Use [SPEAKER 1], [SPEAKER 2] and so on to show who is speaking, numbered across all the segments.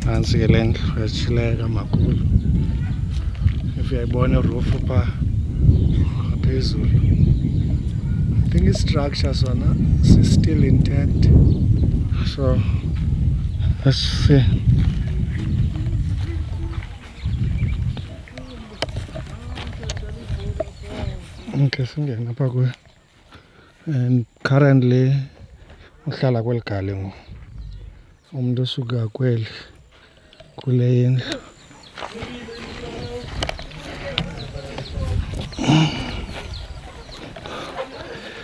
[SPEAKER 1] nantsi ke le ndlu yatshileka makhulu if uyayibona irufu phaa ngaphezulu i think istructure sona si-still intact so let's see Okay, singena apha kuyo and currently uhlala kweli gale ngoku umntu usuka kweli kule yendlu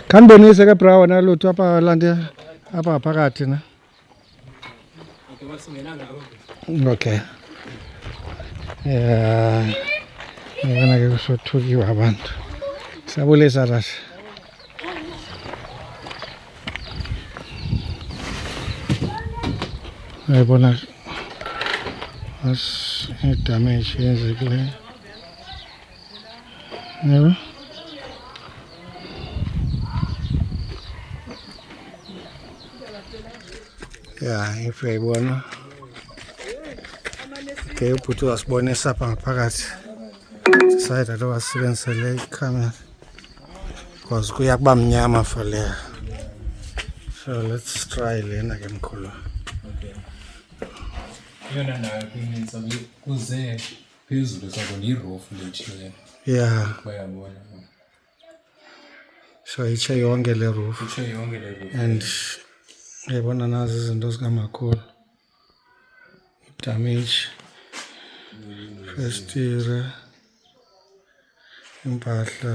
[SPEAKER 1] khandibonise ke bra wena lutho apha lande apha phakathi na Okay. Yeah. Ngibona ke kusothukiwa abantu. Sabulisa rasha. Ayibona as damage yenzekileyo. Evet. Ya, ife bwana. Ke uputu wasibonisa hapa ngaphakathi. Sasa itatoka wasibenzisa le camera. Cause kuya kuba mnyama for leya. So let's try lena ke mkhulu. Okay.
[SPEAKER 2] Yona nayo kuninzi kuze phezulu sako
[SPEAKER 1] ndiyirofu
[SPEAKER 2] letshe
[SPEAKER 1] le ya bayabona so itshe yonke le rofu itshe yonke le rofu
[SPEAKER 2] and uyayibona
[SPEAKER 1] nazi izinto zikamakhulu damage festire impahla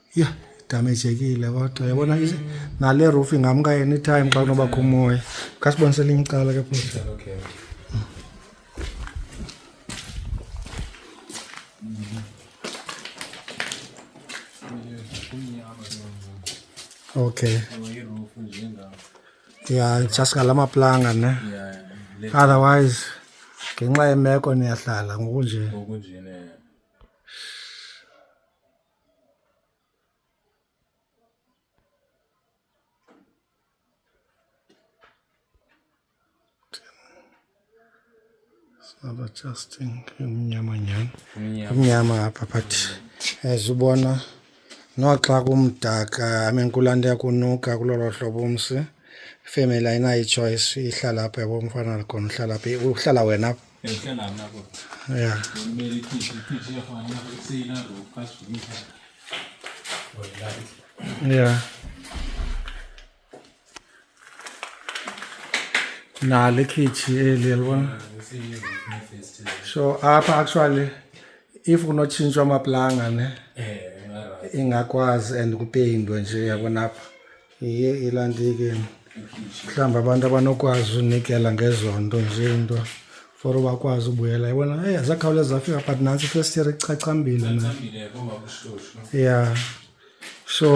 [SPEAKER 1] yha damejekile kodwa yabona nale roof ingamka anytime xa kunobakho umoya khasibonise elinye icala ke futhi okay ya just ngala maplanga ne
[SPEAKER 2] otherwise
[SPEAKER 1] ngenxa yemeko niyahlala ngokunje Sasa Justin umnyama nyhani umnyama apha but as ubona noxa kumdaka amenkulanda yakunuka kulolo hlobo umsi ifemeli ayinayo ichoice ihlala apha yabo umfana likhona uhlala phi uhlala wena apha
[SPEAKER 2] Yeah.
[SPEAKER 1] Yeah. na le khichi eli yalibona so apha actually if kunotshintshwa amaplanga ne ingakwazi and kupeyindwe nje yabona apha Iye ilantike mhlawumbi abantu abanokwazi unikela ngezo nto nje nto for bakwazi ubuyela yibona eyi zakhawuleza zafika but nantsi ifirst year ichachambile na ya so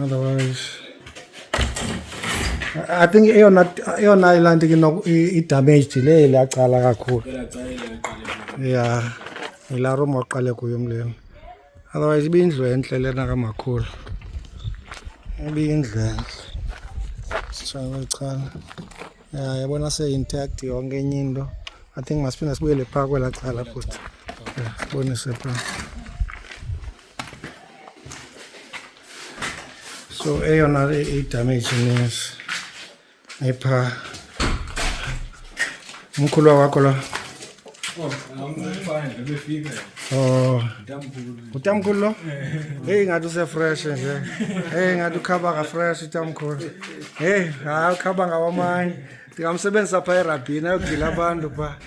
[SPEAKER 1] otherwise i think eyona eyona laa nto ke idamaged le lacala kakhulu ya yilaa room waqale kuyo mleni otherwise ibiyindlu entle lena kamakhulu ibiyindlu entle sishakwecala ya yabona seyintact yonke enye into i think masiphinde sibuyele phaa kwelaa cala futhi sibonise phaa So eyona idamage ines epha umkhulwa wakho la Oh. Utamkhulu lo? Hey ngathi use fresh nje. Hey ngathi ukhaba ka fresh utamkhulu. Hey, hayi ukhaba ngawamanye. Ndingamsebenzisa pha erabhini ayogila abantu pha.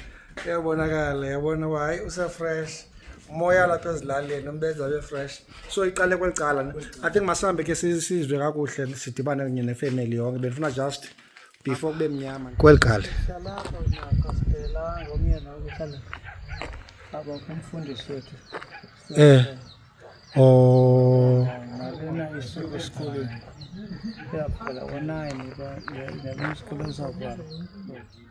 [SPEAKER 1] Iyabonakala, yabona uba hayi usefresh. Umoya lapha ezilalini umbenza abe fresh. So iqale kweli cala. ne? I think masihambe ke si- sizwe kakuhle sidibane kunye nefamily yonke. Bendifuna just before kube mnyama. Kweli cala. Salapha unakho
[SPEAKER 3] siphela ngomyeni okuhlala aba kumfundisi wethu. Eh. Oh. Nalena isuku esikoleni. Iyaphela ngo-nine, iba- iba- iba- isikole sizavala.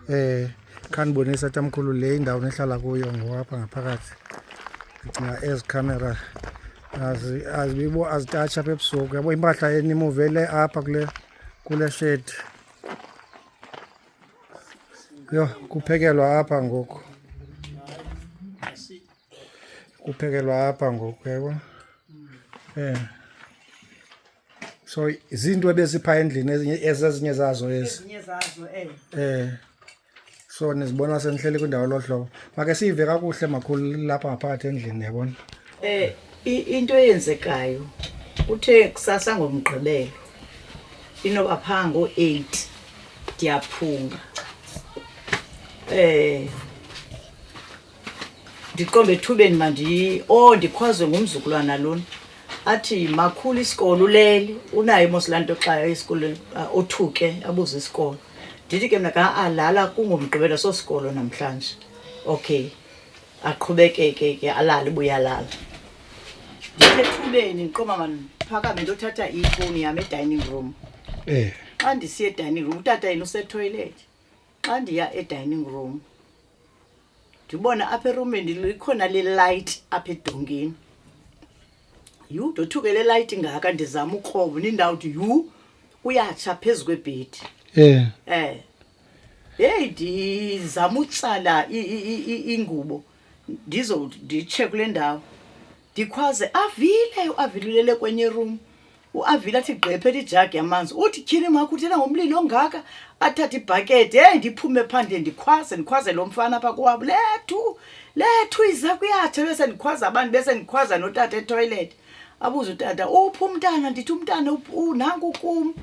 [SPEAKER 3] Eh
[SPEAKER 1] khanibonisa tamkhulu le indawo nehlala kuyo ngoapha ngaphakathi ndicinga ezi camera azibibo azitatsha apha ebusuku yabo impahla enimuvele apha kule kule shed yho kuphekelwa apha ngoku kuphekelwa apha ngoku yabo um eh. so zinto ebezipha endlini ezinye ezezinye zazo ezi ezinye zazo
[SPEAKER 3] eh eh
[SPEAKER 1] so nizibona senihleli kwindawo lohlobo make siyive kakuhle makhulu lapha ngaphakathi endlini yabona eh i-
[SPEAKER 4] into eyenzekayo kuthe kusasa ngomgqibelo inoba phaa ngo-eight ndiyaphunga um ndiqombe ethubeni mandiyi o oh, ndikhwazwe ngumzukulwana lona athi makhulu isikolo ulele unayo mos laa nto xa esikolweni ah, othuke abuze isikolo ndithi ke mna kaalala ah, kungomgqibelo sosikolo namhlanje okay aqhubekeke ke alale buyalala ndithethubeni ndiqoma mandiphakame ndothatha ifowuni yam edining room um xa ndisiye edining room utata yena usetoilethi xa ndiya edining room ndibona apha erumini likhona lelayithi apha edongeni yhu ndothuke le layithi ingaka ndizama ukrobo nindawo uthi yhu kuyatsha phezu kwebhedi um um heyi ndizama utsala ingubo ndizowuthi nditshe kule ndawo ndikhwaze avile uavile ulele kwenye room uavile athi gqephe lijagi yamanzi uthi tyhini makho uthena ngomlili ongaka athathe ibhakede heyi ndiphume phandle ndikhwaze ndikhwaze lo mfana apha kowabo lethu lethu iza kuyathe bese ndikhwaza abantu bese ndikhwaza notata etoilet abuze utata uphi umntana ndithi umntana up- u- nanku kum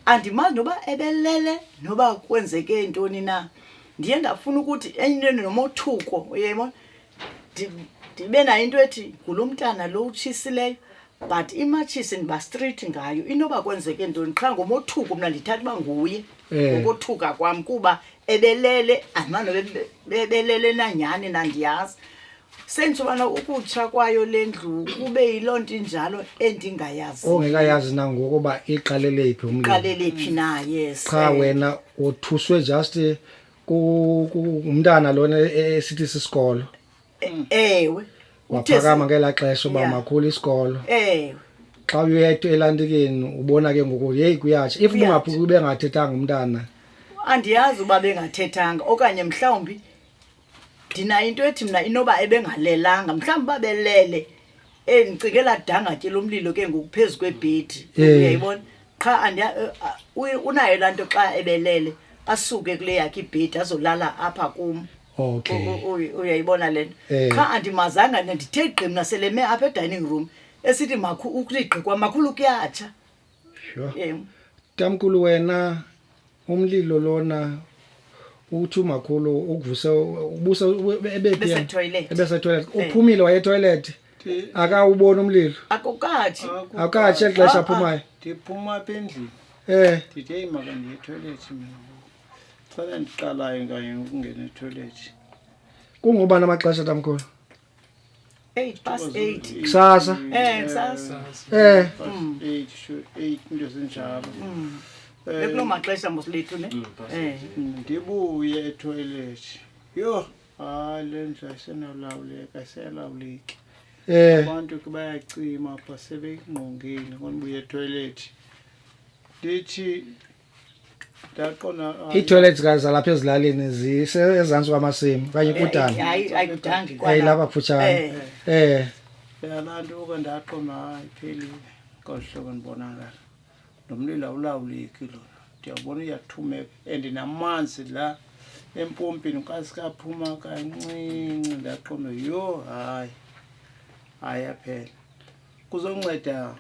[SPEAKER 4] andimazi noba ebelele noba kwenzeke ntoni na ndiye ndafuna ukuthi enye into nomothuko uyayibona ndibe nayo into ethi ngulo mntana lo utshisileyo but imatshisi ndiba street ngayo inoba kwenzeke ntoni qha ngomothuko mna ndithatha uba nguye eh. ngokothuka kwam kuba ebelele andimanobe bebelele nanyhani nandiyazi sentsho ubana ukutsha kwayo le ndlu kube yiloo nto injalo endingayazi ongekayazi nangoku
[SPEAKER 1] uba iqalele phi umlilo qalele phi na
[SPEAKER 4] yes cha eh, wena
[SPEAKER 1] uthuswe just eh, ku- ku- ngumntana lona e- e- esithi sisikolo ewe
[SPEAKER 4] Uthe waphakama
[SPEAKER 1] si- ngelaa xesha uba Yeah. makhulu isikolo ewe xa uyetwa elantikeni ubona ke ngoku yeyi kuyatsha if Kuyatsha. ungaphi ubengathethanga umntana andiyazi
[SPEAKER 4] uba bengathethanga okanye mhlawumbi ndinayo into ethi mna inoba ebengalelanga mhlawumbi uba belele um ndicinge ladangatye lomlilo ke ngoku phezu kwebhedi eh. uyayibona qha eh, unayo laa nto xa ebelele asuke kule yakhe ibhedi azolala apha kum uyayibona le nto eh. qha andimazanga ndithe gqim naseleme apha edining room esithi ukligqikwa makhulu kuyatsha Sure. Yebo.
[SPEAKER 1] Tamkulu wena umlilo lona uthi umakhulu ukuvuse ubusa ebephi Bese yena? toilet. ebese toilet Eh. uphumile waye toilet Ndi- akawubona umlilo Akukathi. akuka- akatshe xesha Ah, ah. aphumayo ndiphuma apha endlini
[SPEAKER 3] eh ndithi eyi maka ndiye ethoyilethi mina ngoku. xa ndiqalayo kanye ukungena ethoyilethi kungobani
[SPEAKER 1] amaxesha tamkhulu 8 past
[SPEAKER 4] 8 kusasa eh kusasa
[SPEAKER 3] eh 8 sure 8 into zinjalo mm. eh,
[SPEAKER 4] ekuloo maxesha mosilethu ne mm, eh mm. ndibuye
[SPEAKER 3] etoilet yho hayi le ndlu ayisenolawuleka ayiselawuleki eh. abantu ke bayacima apha sebeyingqongile ngonibuye etoilet ndithi ii-toilets
[SPEAKER 1] ka zalapha ezilalini zisezantsi kwamasimi okanye eh, kudana hayi
[SPEAKER 4] lapha kufutshane
[SPEAKER 1] eh.
[SPEAKER 3] eh yalantuka ndaqoma hayi phelile ngohlobo ndibonakala nomlilo awulawuleki lona ndiyabona uyathumeka and namanzi la empompini kasikaphuma kancinci ndaqome yho hayi hayi aphela kuzonceda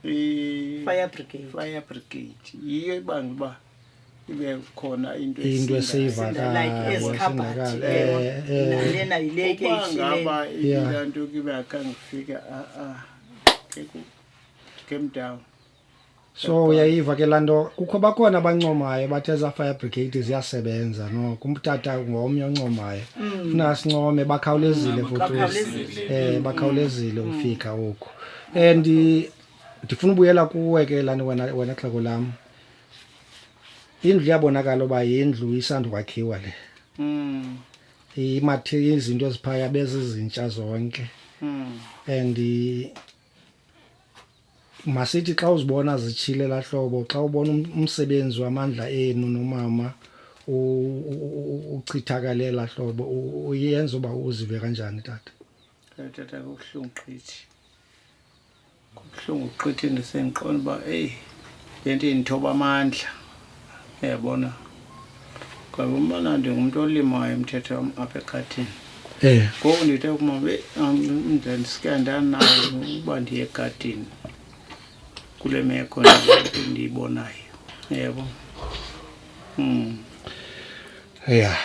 [SPEAKER 3] i-fire
[SPEAKER 4] brigade
[SPEAKER 3] fire brigade
[SPEAKER 4] yiyo ibanga
[SPEAKER 3] uba ibe khona into into
[SPEAKER 1] esiyivakalailena
[SPEAKER 4] yilekengaba
[SPEAKER 3] ilaa nto kibe akangifika a-a ah, ah, came down so
[SPEAKER 1] uyayiva ke laa nto kukho bakhona abancomayo bathe eza fire brigade ziyasebenza no kumtata ngomnye oncomayo mm. funa sincome bakhawulezile mm, futhi um bakhawulezile mm. ufika oku and ndifuna ubuyela kuwe ke lani wena wena xheko lam indlu iyabonakala uba yindlu isandukwakhiwa le imathe izinto eziphaya bezizintsha zonke and masithi xa uzibona zitshile la hlobo xa ubona um-, umsebenzi wamandla enu nomama uchithakale la hlobo uyenza uba uzive kanjani tata eh, tata
[SPEAKER 3] kubuhlungu qithi kubuhlungu qithi ndisendiqonda uba eyi le nto indithoba amandla uyabona ngoba umana ndingumntu olimayo umthetho wam apha ekhathini Eh. ngoku ndithe kumama ndandisike ndanayo uba ndiye egadini kule meko ndiye- ndiyibonayo yebo Mm.
[SPEAKER 1] ya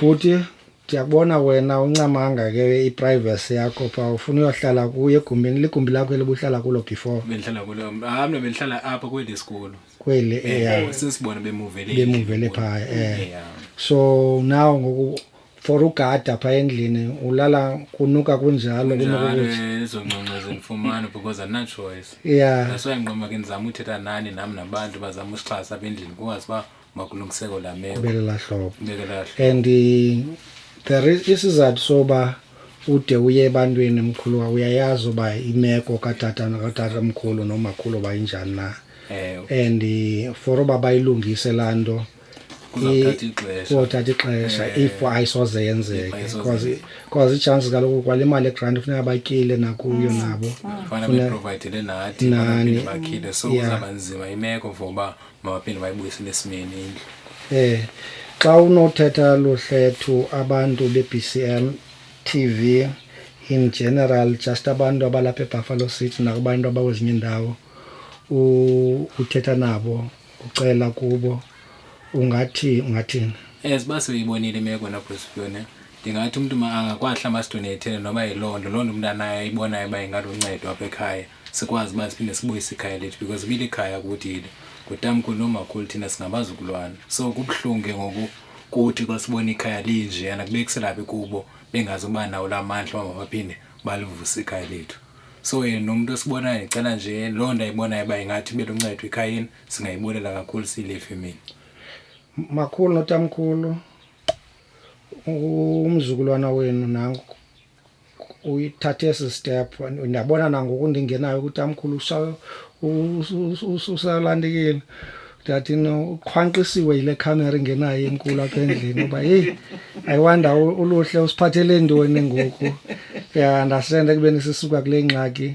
[SPEAKER 1] bhuti ndiyakubona wena uncamanga ke iprivacy yakho pha ufuna uyohlala kuye egumbini ligumbi lakho elibuhlala kulo before bendihlala kulo ah
[SPEAKER 2] mna bendihlala apha kweli sikolo kweli eh, eh, yeah.
[SPEAKER 1] sesibona
[SPEAKER 2] bemuvele bemuvele phaa eh. yeah.
[SPEAKER 1] so now ngoku for ugada phaa endlini ulala kunuka kunjalo kunokuzonconcozinfumana
[SPEAKER 2] eh, because anachoice yeah that's why nqoma ke ndizama uthetha nani nam nabantu bazama usixhasa apha endlini kungazi uba makulungiseko la meko belela hlobo
[SPEAKER 1] and there is isizathu soba ude uye ebantwini mkhulu uyayazi uba imeko katata katata mkhulu nomakhulu bayinjani na Ewe. and eh, for uba bayilungise laa nto Kuzawuthatha ixesha. kuzothatha ixesha Eh. if ayisoze yenzeke Ayisoze because yenzeke. because ichances kaloku kwale mali egranti funeka batyile nakuyo Mm. nabo fana Funa- beprovidele
[SPEAKER 2] nathi Nani. banaphinde bakhile so Yeah. kuzaba nzima imeko for uba mabaphinde bayibuyisele esimeni indlu Eh xa
[SPEAKER 1] unothetha luhlethu abantu beBCM TV in general just abantu abalapha eBuffalo City nakubantu abakwezinye indawo uthetha nabo ucela kubo ungathi ungathini as uba
[SPEAKER 2] seyibonile imeko nabrosipiyone ndingathi umntu angakwahla masidoneyithele noba yiloo nto loo nto umntu anayo ayibonayo uba ingaluncedo apha ekhaya sikwazi uba siphinde sibuyise ikhaya lethu because ibile ikhaya kuthile ngutamkhulu nomakhulu thina singabazukulwana so kubuhlungu ke ngoku kuthi xa sibona ikhaya linjeyana kubekiselaphi kubo bengazi uba nawo la mandla uba mabaphinde balivuse ikhaya lethu so yena nomntu osibonayo ndicela nje loo nto ayibonayo uba ingathi ibe luncedo ekhayeni singayibonela kakhulu siyile femini
[SPEAKER 1] makhulu notamkhulu umzukulwana wenu nanku uyithathe esi step ndiyabona nangoku ndingenayo ukuthi amkhulu usalandekile ndati ukhwanqisiwe yile khamera ingenayo enkulu apha endlini uba heyi ayiwanda uluhle usiphathele ntoni ngoku ya ndasenda ekubeni sisuka kule ngxaki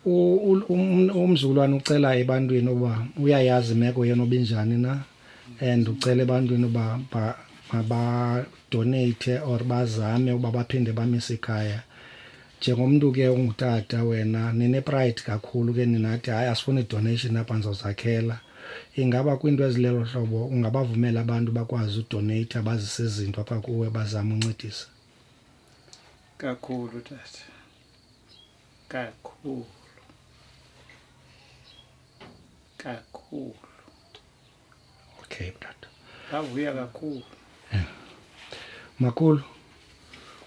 [SPEAKER 1] umzukulwane ucela ebantwini uba uyayazi imeko yena obinjani na and ucela ebantwini uba mabadoneyithe or bazame uba baphinde bamise ikhaya njengomntu ke ungutata wena ninepride kakhulu ke ninathi hayi asifuni donation apha ndizozakhela ingaba kwiinto ezilelo hlobo ungabavumela abantu bakwazi udoneyitha bazise izinto apha kuwe bazama uncedisa kakhulu
[SPEAKER 3] tata kakhulu
[SPEAKER 1] kakhulu Okay, brother. Ndavuya kakhulu.
[SPEAKER 3] Yeah.
[SPEAKER 1] Makulu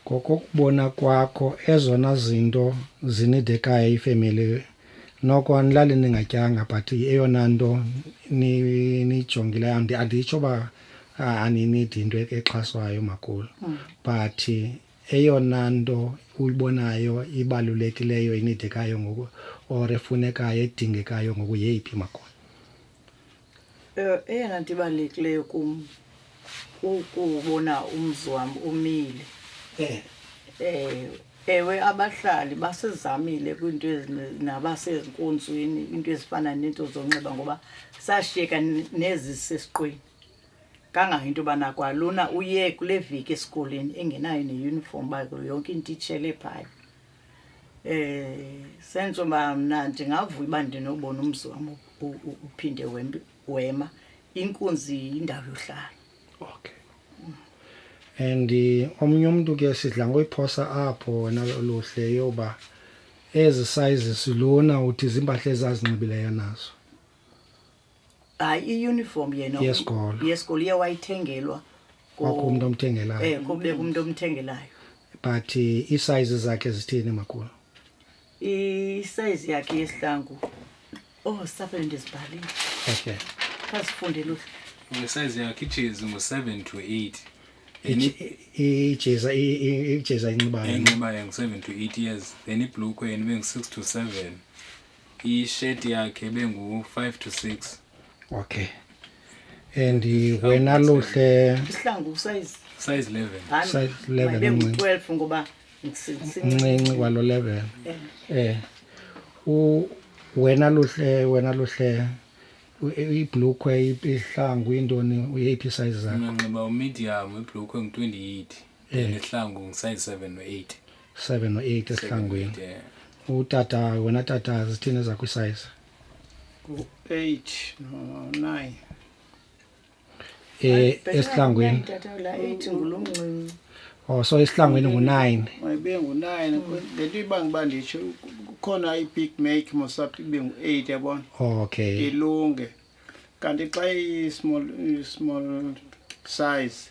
[SPEAKER 1] ngokokubona kwakho ezona zinto zinidekayo ifemeli noko anilali ningatyanga but eyona nto niyijongileyo ni anditsho uba aninidi into exhaswayo makulu mm. but eyona nto uyibonayo ibalulekileyo inidekayo ngoku or efunekayo edingekayo ngoku yeyiphi makulu Eh,
[SPEAKER 4] eyona nto ibalulekileyo kum kukubona umzi wam umile Eh, um ewe abahlali basizamile kwiinto ezine- nabasezinkonzweni iinto ezifana neento zonxiba ngoba sashiyeka ne- nezisesiqweni kangangento yobana kwalona uye kule veki esikolweni engenayo neyunifomu uba yonke into itshele phaya Eh senzo ba mna ndingavuya uba ndinobona umzi wam uphinde wema inkunzi yindawo yohlala okay
[SPEAKER 1] and eh, omnye umntu ke sidla ngoyiphosa apho wena luhle yoba ezi sizes lona uthi ziimpahla ezazinxibileyo nazo hayi
[SPEAKER 4] iuniform yena Yesikolo. yesikolo iye wayithengelwa ku- Kwakho umntu
[SPEAKER 1] omthengelayo. eh kube umntu
[SPEAKER 4] omthengelayo but eh,
[SPEAKER 1] iisize zakhe zithini makhulu
[SPEAKER 4] isize yakhe yesihlangu oh sapele ndizibhalile okay
[SPEAKER 1] khazifunde
[SPEAKER 4] luhlu ngesayizi yakhe
[SPEAKER 2] ijezi ngu-seven to eight Ije- i- ijeza
[SPEAKER 1] i- i- ijeza inxibayo enxibayo ngu-seven
[SPEAKER 2] to eight years then ibhlukwe yena ibe ngu-six to seven ishirt yakhe bengu-five to six
[SPEAKER 1] okay and wena luhle isihlangu size
[SPEAKER 4] size eleven
[SPEAKER 2] size eleven
[SPEAKER 1] bengu-twelve ngoba
[SPEAKER 4] mncinci
[SPEAKER 1] kwalo level eh. eh u wena luhle wena luhle ibhlukwe ihlangu intoni uyeyiphi size zakho nginxiba umedium
[SPEAKER 2] ibhlukwe ngu-28 eh. nesihlangu ngu-size seven no-eight seven no eight
[SPEAKER 1] esihlangwini utata wena tata zithini ezakho isayizi
[SPEAKER 3] u-eight
[SPEAKER 4] no-nine um esihlangwini oh so
[SPEAKER 1] esihlangwini ngu-nine ibe ngu-nine
[SPEAKER 3] le nto ibanga uba nditsho kukhona i-big make mosap ibe ngu-eight yabona okay ilunge kanti xa i-small small size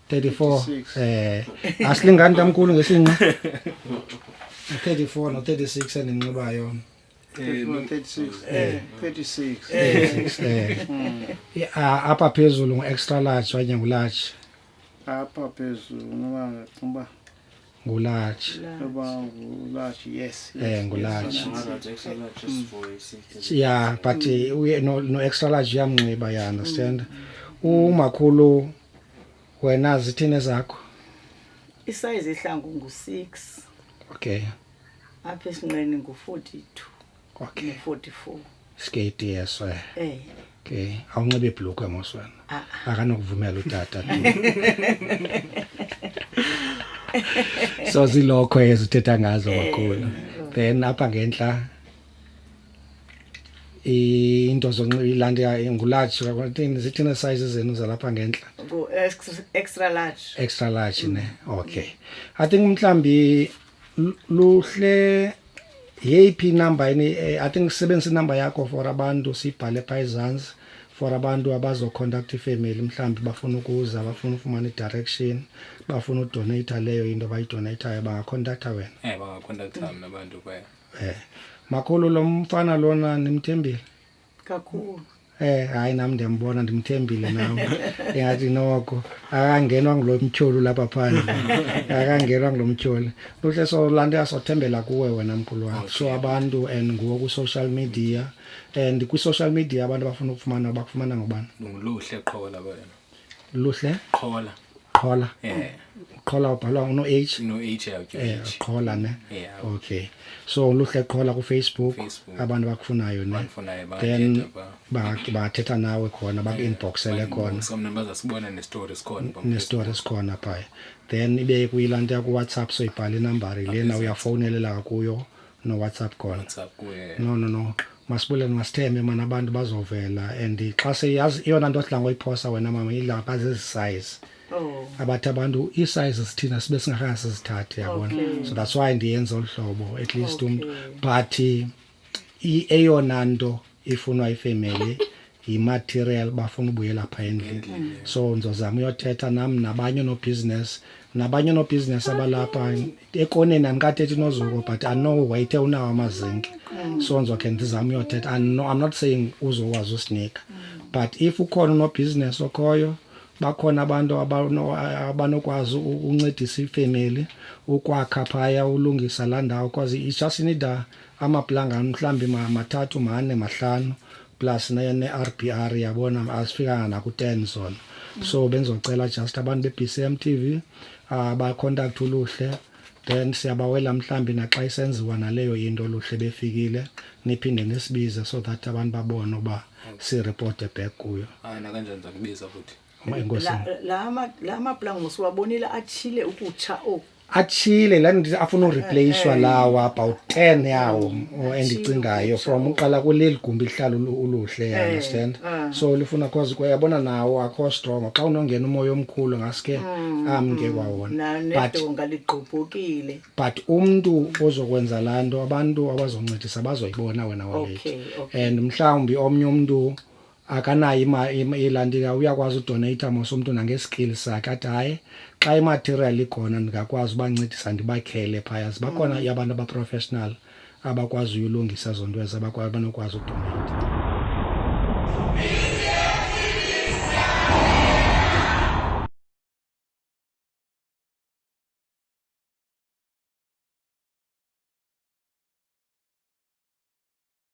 [SPEAKER 1] 34 eh asilingani tamkhulu ngesinqa 34 no 36 eninxibayo eh,
[SPEAKER 3] eh, eh. hmm. ah, apha
[SPEAKER 1] phezulu ngu-extra large okanye ngu-large apha
[SPEAKER 3] phezulu ngoba ngacinga uba ngulatshi eh ngulatshi
[SPEAKER 1] yeah but eh, uye no, no extra large uyamnxiba ya understand umakhulu wena zithini zakho isize
[SPEAKER 4] ihlangu ngu-6 okay
[SPEAKER 1] apha
[SPEAKER 4] esinqeni ngu-42
[SPEAKER 1] okay.
[SPEAKER 4] 44 skate yeso
[SPEAKER 1] eh. eh okay awunxibe ibhlukwe moswana ah, ah. akanokuvumela utata so zilokho ezithetha ngazo eh, kakhulu then apha ngentla into zonxilanda ngularge kwathini zithina size zenu zalapha ngenhla extra
[SPEAKER 4] large extra large ne
[SPEAKER 1] mm. okay i think mhlambi L- luhle yeyiphi inamba ini eh, i think sisebenzisa inamba yakho for abantu siyibhale phaa ezantsi for abantu abazocontact ifemeli mhlawumbi bafuna ukuza bafuna ufumana i-direction bafuna udoneyitha leyo into bayidoneyithayo bangakhontaktha wena Eh bangakontaktha mna
[SPEAKER 2] abantu kwaye. um makhulu
[SPEAKER 1] lo mfana lona nimthembile
[SPEAKER 4] kakhulu Eh hayi
[SPEAKER 1] nam ndiyambona ndimthembile nam ingathi noko akangenwa ngulo mtyholi lapha phandle akangenwa ngulo mtyholi luhle so laa nto yasothembela kuwe wena mkhulu wam so abantu and nguwo kwi-social media and kwi-social media abantu abafuna ukufumana bakufumana ngobani nguluhle qho
[SPEAKER 2] laba yena luhle
[SPEAKER 1] qhola
[SPEAKER 2] qhola
[SPEAKER 1] eh qhola ubhala uno h no h yakhe
[SPEAKER 2] eh qhola ne yeah.
[SPEAKER 1] okay so luhle qhola ku facebook, Facebook. abantu bakufunayo ne Bakufunayo, then bangathetha ba- bathetha nawe khona baku inboxele khona somna baza
[SPEAKER 2] sibona ne story sikhona
[SPEAKER 1] phambi ne story sikhona phaya then ibe kuyilanto yakwa WhatsApp so ibhala inambari lena uyafowunelela kuyo nowhatsapp call WhatsApp kuye. no no
[SPEAKER 2] no
[SPEAKER 1] masibulele masithembe mani abantu bazovela and xa seyazi eyona nto odla ngoyiphosa wena mama idla pha zezi size Oh. abathi abantu ii-size zithina sibe singakhange sizithathe yabona Okay. so that's why ndiyenza olu hlobo at least umntu Okay. but i- eyona nto ifunwa ifemeli yimaterial bafuna ubuyela apha endlini so ndizozama uyothetha nam nabanye onobhizinesi nabanye onobhizinesi abalapha ekoneni andikathethi nozuko but i know wayithe unawo amazinki so ndizokhe ndizame uyothetha I know- i'm not saying uzokwazi usinika but if ukhona unobhizinesi okhoyo bakhona abantu abano- abanokwazi u- ukuncedisa ifemeli ukwakha phaya ulungisa laa ndawo because it's just need a amaplanga mhlawumbi mathathu mane mahlanu plus ne-rbr yabona asifikanga naku-ten zona so bendizocela just abantu be-b c m t v uh, bacontact uluhle then siyabawela mhlawumbi naxa isenziwa naleyo into oluhle befikile niphinde nisibize so that abantu babone uba sireporte back kuyo hayi nakanjani ndizakubiza
[SPEAKER 2] futhi la maplango
[SPEAKER 1] siwabonile
[SPEAKER 4] atshile ukutsha oku oh. atshile
[SPEAKER 1] la ndithi afuna ureplacwa eh, eh. lawa about ten yawo mm, endicingayo from uqala kuleli gumbi lihlala uluhle eh, understand ah. so lifuna cause kwayabona nawo akho strong xa unongena umoya omkhulu ngaske mm, amke mm. kwawona
[SPEAKER 4] ngaligqubhukile but umntu
[SPEAKER 1] ozokwenza laa nto abantu abazoncedisa bazoyibona wena wabethi and mhlawumbi omnye umntu akanayo ima- ima- ilantika uyakwazi udoneyitha mos umntu nangeskill sakhe athi hayi xa imaterial ikhona ndingakwazi ubancedisa ndibakhele phaya zibakhona abantu abaprofessional abakwaziyo ulungisa ezo nto ezo abakwa- abanokwazi udoneyitha